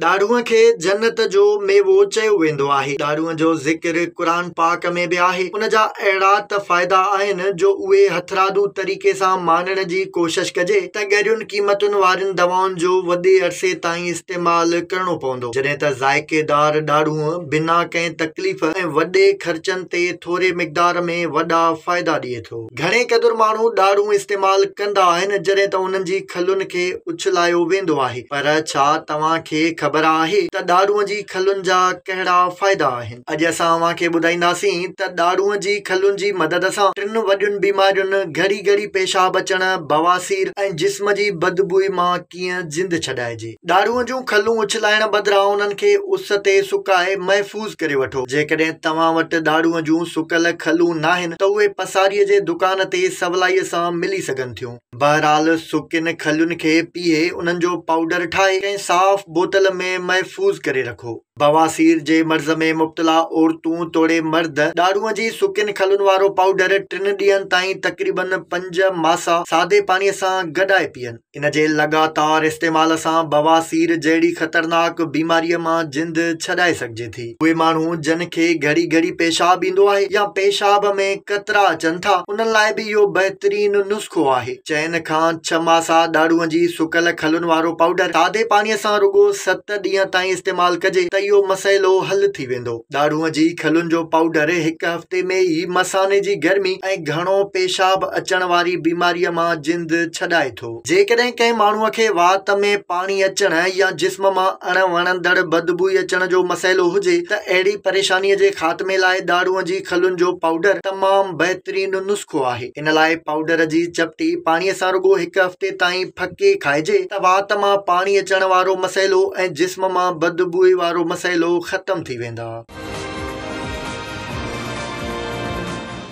ڏاڙهوء کي جنت جو ميوو چيو ويندو آهي. ڏاڙهوء جو ذڪر قرآن پاڪ ۾ به آهي. ان جا اهڙا ته فائدا آهن جو اهي هٿرادو طريقي سان ماڻڻ جي ڪوشش ڪجي ته ڳريون قيمتن وارين دوائن جو وڏي عرصي تائين استعمال ڪرڻو پوندو جڏهن ته ذائقي دار ڏاڙهوء بنا ڪنهن تڪليف ۽ وڏي خرچن تي ٿوري مقدار ۾ وڏا فائدا ڏئي ٿو. ٿو. گهڻي قدر ماڻهو ڏاڙهون استعمال ڪندا آهن جڏهن ته انهن جي کلن کي اڇلايو ويندو آهي پر ڇا توهان کي خبر آهي ته ڏاڙهون جي کلن جا ڪهڙا فائدا آهن؟ اڄ اسان اوهان کي ٻڌائينداسين ته ڏاڙهون جي کلن جي مدد سان ٽن وڏين بيمارين گهڙي گهڙي پيشاب اچڻ، بواسير ۽ جسم جي بدبوء مان ڪيئن زندھ ڇڏائجي. ڏاڙهون جون کلون اڇلائڻ بدران انهن کي اس تي سڪائي محفوظ ڪري وٺو. جيڪڏهن توهان وٽ ڏاڙهون جون سڪل کلون ناهن ته اهي پساريء جي دڪان تي سولائيء سان ملي سگهن ٿيون. بهرحال سڪين کلين کي پيهي انهن جو پائوڊر ٺاهي ڪنهن صاف بوتل ۾ محفوظ ڪري رکو. بواسير جي مرض ۾ مبتلا عورتون توڙي مرد ڏاڙهون جي سڪين کلن وارو پائوڊر ٽن ڏينهن تائين تقريبن پنج ماسا سادي پاڻيء سان گڏائي پيئن. ان جي لڳاتار استعمال سان بواسير جهڙي خطرناڪ بيماريء مان جند ڇڏائي سگهجي ٿي. اهي ماڻهو جن کي گهڙي گهڙي پيشاب ايندو آهي يا پيشاب ۾ قطرا اچن ٿا انهن لاء به اهو بهترين نسخو آهي. چئن کان ڇهه ماسا ڏاڙهونء جي سڪل کلن وارو پائوڊر سادي پاڻيء سان رڳو ست ڏينهن تائين استعمال ڪجي ته اهو مسئلو حل ٿي ويندو. ڏاڙهوء جي کلن جو پائوڊر هڪ هفتي ۾ ئي مثاني جي گرمي ۽ گهڻو پيشاب اچڻ واري بيماريء مان جند ڇڏائي ٿو. جيڪڏهن ڪنهن ماڻهوء کي وات ۾ پاڻي اچڻ يا جسم مان اڻ وڻندڙ بدبوئي اچڻ جو مسئلو هجي ته اهڙي پريشانيء جي خاتمي لاء ڏاڙهوء جي کلن جو پائوڊر تمام بهترين نسخو آهي. ان لاء پائوڊر جي چپٽي پاڻي سان رڳو هڪ هفتي تائين ڦڪي کائجي ته وات مان پاڻي اچڻ وارو مسئلو ۽ جسم مان بدبوء وارو مسئلو ختم ٿي ويندا.